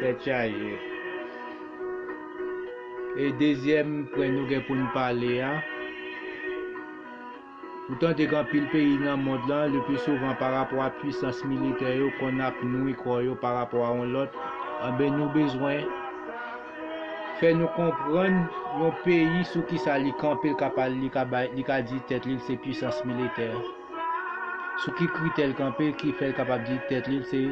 Tèt chaje. E dezyèm pwen nou gen pou n pale a. Ou tande gen anpil peyi nan mond lan, lepli souvan pa rapò a pwisans militè yo konn ap nwi kò yo pa rapò a yon lòt, anben nou bezwen fè nou konprann yon peyi sou kisa li kanpe l ka pale li ka bay li ka di tèt li l se pwisans militè. Sou ki kritè l kanpe ki fè l kapab di tèt li l se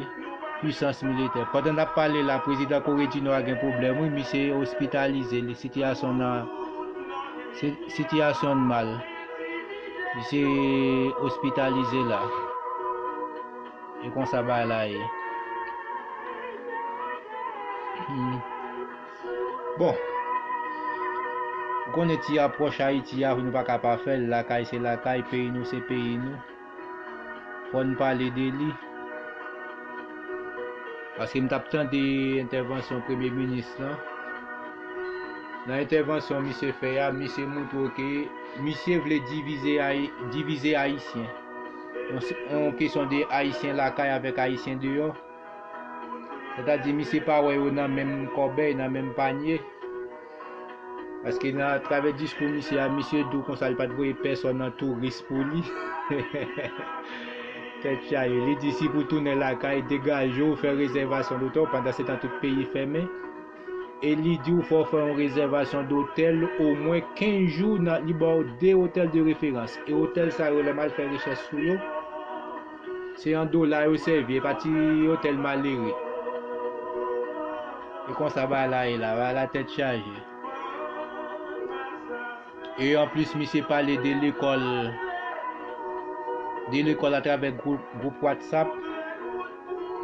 pwisans militè. Pandan n ap pale la prezidan Kore di Nò a gen pwoblèm wi misye ospitalize li sitiyasyon nan Sitiyasyon n mal. Misye ospitalize la. E konsa bay la ye. Hmm. Bon. Ou konnen ti apwòch Ayiti a, nou pa ka pa fè l. Lakay se lakay, peyi nou se peyi nou. Fò n pale de li. Paske m t ap tande entèvansyon premye minis lan. Nan entèvansyon misye fè a, misye montre w ke misye vle divize Ayisyen. On kesyon de Ayisyen lakay avèk Ayisyen deyò. Sètadi misye pa wè yo nan menm kòbèy, nan menm panye. Paske nan travè diskou misye a, misye di w konsa li pa t voye pèsòn an touris pou li. Tèt chaje. Li di si pou tounen lakay, degaje w, fè rezèvasyon dotè w, pandan se tan tout peyi fèmen. E li di w fò w fè yon rezèvasyon dotèl omwen 15 jou, li ba w 2 otèl de referans. E otèl sa yo lè m al fè rechèch sou yo, Se an dola yo sèvi, e pa ti otèl malere. E konsa ba la e la, ba la tèt chaje. E an plis misye pale de lekòl, de lekòl atravè gwoup WhatsApp.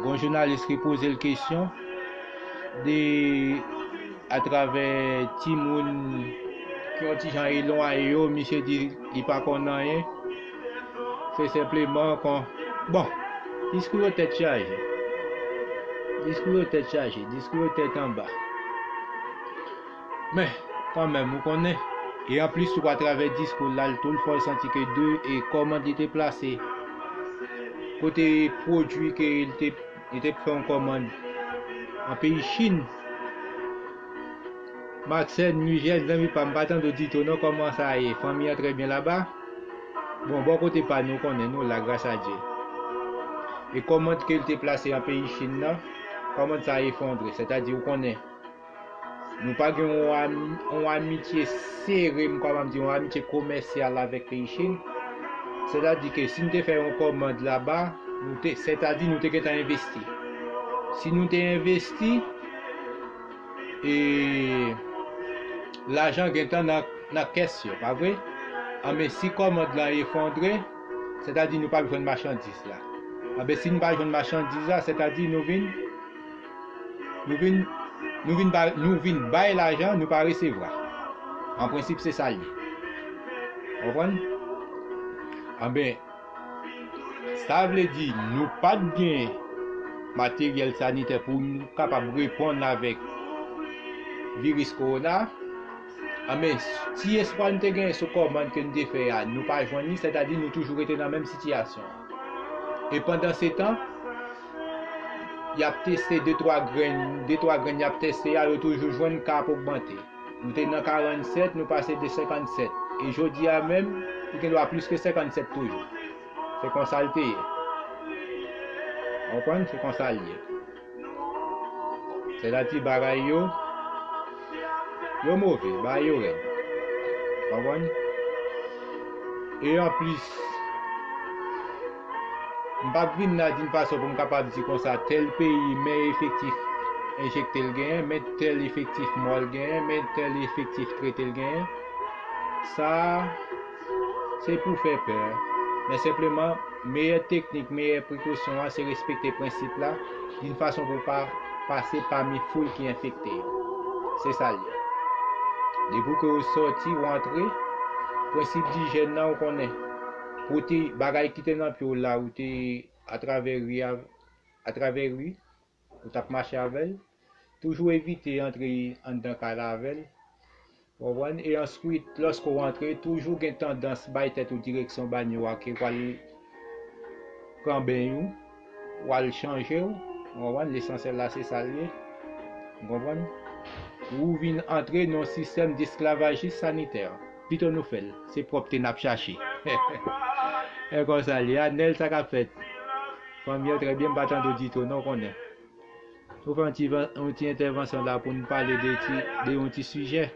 Gon jounalis ki poze l kesyon, de atravè ti moun ki yon ti jan elwaye yo, misye di li pa konn anyen. Se senpleman kon. Bon, diskou yo tèt chaje. Diskou yo tèt chaje, diskou yo tèt anba. Men, kan menm, ou konnen. E an plis tou atravè diskou lal tou l fè w santi ke de e kòmand li te plase. Kote pwodui ke l te. Yo te pran kòmand nan peyi chine. Marcène Mugène zanmi pam pa tande w dito non kòman sa ye fanmi an trè byen laba bon bò kote pa nou konnen nou la gras a Dye e kòmand ke l te plase an peyi Chine nan kòmand sa efondre sètadi ou konnen Nou pa gen yon amitye sere, m kapab di yon amitye komèsyal avèk peyi Chin. Sètadi ke si nou te fè yon kòmand laba, nou te, sètadi nou te gentan envesti. Si nou te envesti, e lajan gentan nan kès yo, pa vre? Anben si kòmand la efondre, sètadi nou pap jwenn machandiz la. Anben si nou pa jwenn machandiz la, sètadi nou vin. Nou vin bay lajan nou pa resevwa. An prensip se sa l ye. Konprann? Anben, sa vle di nou pa t gen materyèl sanitè pou nou kapab reponn avèk viris kowona. Anben, ti espwa nou te gen sou kòmand ke nou te fè a, nou pa jwenn li, sètadi nou toujou rete nan menm sitiyasyon an. E pandansetan, yap teste de twa grenn, de twa grenn yap teste a yo toujou jwenn ka ap ogmante. Nou te nan 47, nou pase de 57. E jodi a menm, li gen dwa plis ke 57 toujou. Se konsa l te ye. Konprann? Se konsa l ye. Se la ti bagay yo, yo move, bagay yo rèd. Konprann? E an plis, M pap vin la di n fason pou m kapab di konsa tèl peyi men efektif enjekte l genyen, men tèl efektif mwa l genyen, men tèl efektif trete l genyen. Sa a se pou fè pè. Men senpleman, meyè teknik, meyè prekosyon an se respekte prensip la di n fason pou w pa pase pami foul ki enfekte yo. Se sa l ye. Depi w ke w soti, w antre, prensip dijyèn nan ou konnen. Pou te bagay ki te nan pye w la ou te atravè ri atravè ri ou tap mache avèl toujou evite antre anndan kay la avèl konprann e answit lòske w antre toujou gen tandans bay tèt ou direksyon banyo a ke pral pran beny ou Wal chanje w konprann lesansyèl la se sal ye ou konprann ou vin antre nan sistèm desklavajis sanitè pito nou fèl se pwòpte nap chache e konsa l ye a nèl sa kap fèt fanmi yo trè byen m pa tande w ditou non konnen nou fè yon ti entèvansyon la pou nou pale de ti de yon ti sijè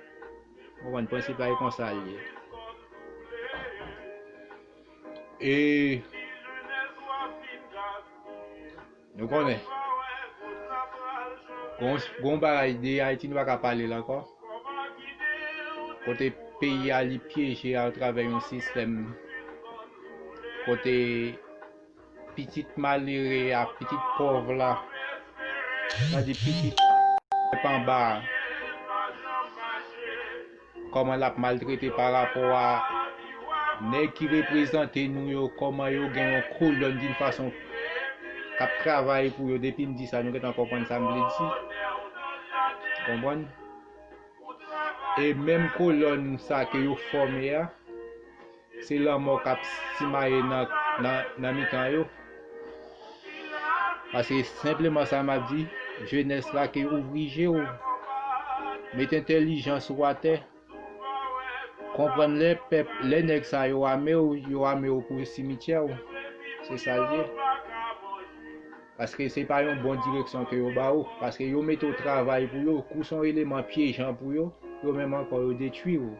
ou konprann prensip la e konsa l ye. E Nou konnen Gon yon bagay de Haïti nou paka pale l ankò Kote peyi a li pyeje a travè yon sistèm Kote pitit malere a pitit pòv la Sa di pitit pèp anba a Koman lap maltrete pa rapò a nèg ki reprezante nou yo koman yo gen yon kolòn din fason kap travay pou yo depi m di sa nou gentan konprann sa m vle di konprann e menm kolòn sa ke yo fòme a. Se lanmò k ap simaye nan mitan yo. Pase senpleman sa m ap di, jenès la ke ouvri je w, met entelijans ou atè, konprann lè pèp, lè nèg sa yo ame w, yo ame w pou simityè w. Se sa l ye. Paske se pa yon bon direksyon ke yo ba ou. Paske yo mete w travay pou yo, kou se yon eleman pyejan pou yo, yo menm ankò yo detwi ou.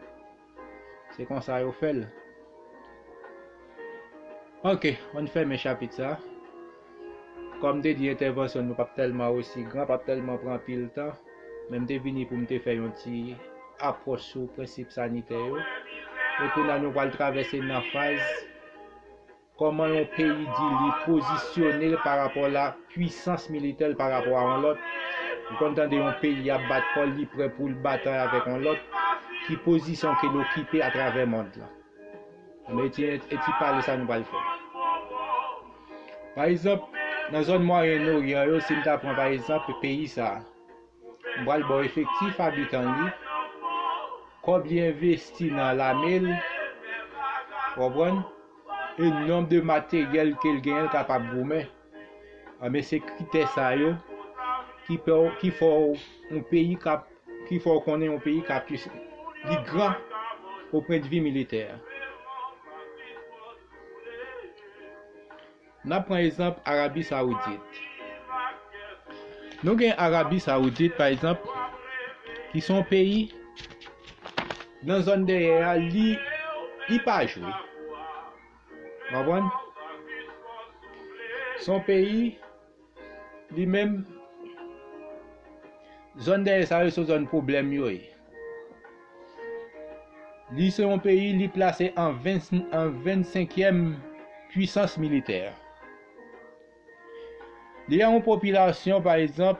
Se konsa yo fèl. Ok, an fèmen chapit sa. Kòm te di entèvansyon nou pap tèlman osi gran, pap tèlman pran pil tan, men m te vini pou m te fè yon ti apwòch sou prensip sanitè yo. E kounye a nou pral travèse nan faz Kòman yon peyi di li pozisyone l pa rapò la pwisans militè l pa rapò a yon lòt? Ou konn tande yon peyi ap bat kò l li prè pou l batay avèk yon lòt? Ki pozisyon ke l okipe a travè mond lan? Anben e ti e ti pale sa nou pral fè. Pa egzanp, nan zòn Mwayen Oryan yo, si m ta pran pa egzanp peyi sa a, m pral ba w efektif abitan li, kòb li envesti nan lame l, ou konprann? e nonb de materyèl kel genyen l kapab goumen anben se kritè sa yo ki fè w ki fè w yon peyi kap ki fè w konnen yon peyi kap li gran o pwendvi militè. N ap pran ezanp Arabi Sawoudit. Nou gen Arabi Sawoudit pa ezanp ki son peyi nan zòn dèyè a li li pa jwe. Konprann? Son peyi Li menm, zòn dèyè sa yo se zòn pwoblèm yo ye. Li se yon peyi li plase an 25 yèm pwisans militè. Li gen yon popilasyon pa egzanp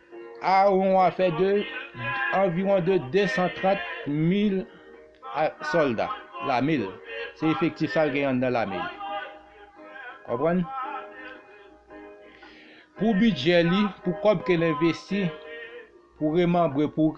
Aaron a fè de anviwon de 230 mil sòlda lame l. Se efektif sa l gen anndan lame l. Konprann? Pou bidjè li, pou kòb ke l envesti, pou remanbre, pou.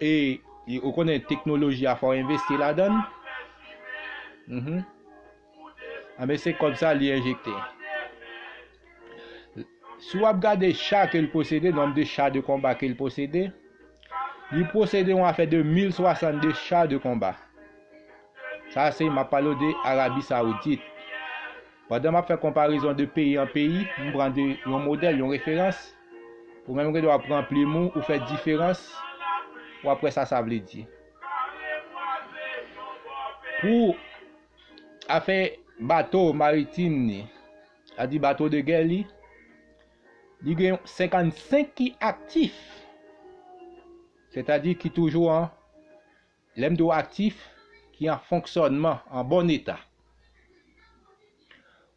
E ou konnen teknoloji a fò investi ladan. Mhm. Anbe ah, se kob sa li enjekte. Si wap gade cha ke l posede, nom de cha de konba ke l posede, li posede yon afè de 1062 cha de konba. Sa se map palo de Arabi Saoudit. Padan map fè konparezon de peyi an peyi, m pran de yon modèl, yon referans, Ou menm ki dwa pran plim ou, ou fè diferans, w ap wè sa sa vle di. Pou afè bato maritim ni, sa di bato de gè li, li gen 55 ki aktif, sètadi ki toujou an Lè m di w aktif ki an fonksyònman, an bon eta.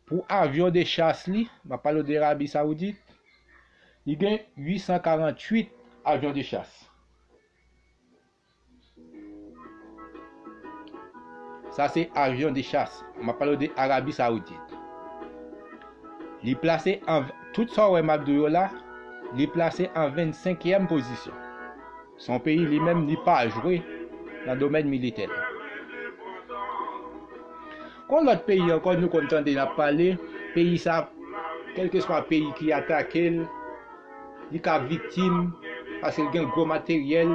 Pou avyon de chas li, m ap pale w de Arabi Sawoudit, li gen 848 avyon de chas. Sa se avyon de chas, m ap pale w de Arabi Sawoudit. Li plase an, tout sa w wè m ap di w yo la, li plase an 25 yèm pozisyon. Son peyi li menm li pa jwe nan domèn militè l. Kon lòt peyi ankò nou konn tande nap pale peyi sa kèlkeswa peyi ki atake l li ka viktim paske l gen gwo materyèl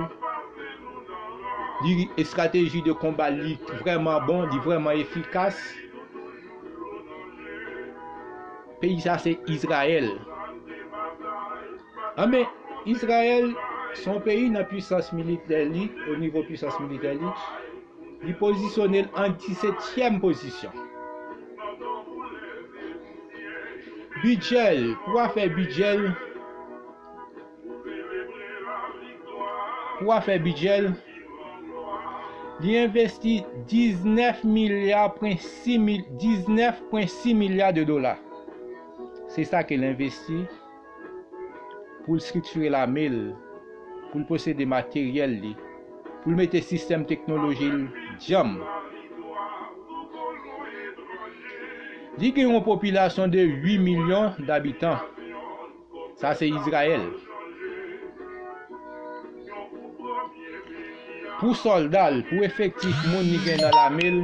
li estrateji de konba l li vrèman bon li vrèman efikas peyi sa se Izrayèl. A men Izrayèl se yon peyi nan pwisans militè li, o nivo pwisans militè li, li pozisyone l an disetyèm pozisyon. Bidjè l, pou afè bidjè l, pou afè bidjè l, li envesti 19 milya pwen 6 milya de dola. Se sa ke l envesti. pou l striktire lame l, pou l posede materyèl li, pou l mete sistèm teknoloji l djanm. Li gen yon popilasyon de 8 milyon dabitan. Sa se Izrayèl. Pou sòlda l, pou efektif moun li gen nan lame l,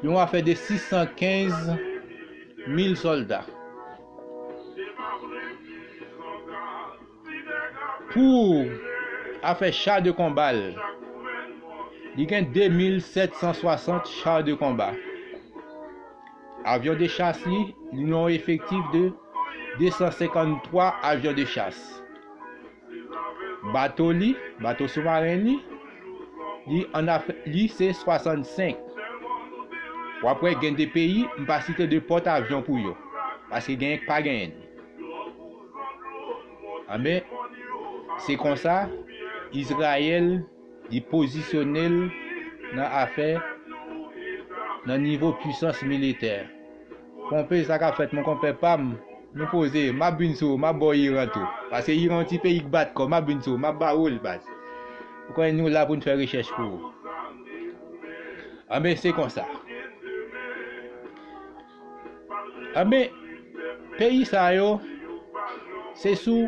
yon afè de 615 mil solda pou afè cha de konba l li gen 2 mil 760 cha de konba avyon de chas li li yon efektif de 253 avyon de chas Bato li, bato soumaren li, li an af, li se 65. Ou ap wè gen de peyi, m pa site de pòt avyon pou yo. Paske genyen k pa genyen li. Anben, se konsa, Izrayèl. Li pozisyone l nan afè nan nivo pwisans militè. Konpe sa kap fèt mon konpè pam. Nou poze, map vin sou ou, map ba w Iran tou. Paske Iran yon ti peyi k bat kò, map vin sou ou, map ba ou l baz. Ou konnen nou la pou n fè rechèch pou ou. Anben se konsa. Anben peyi sa yo se sou.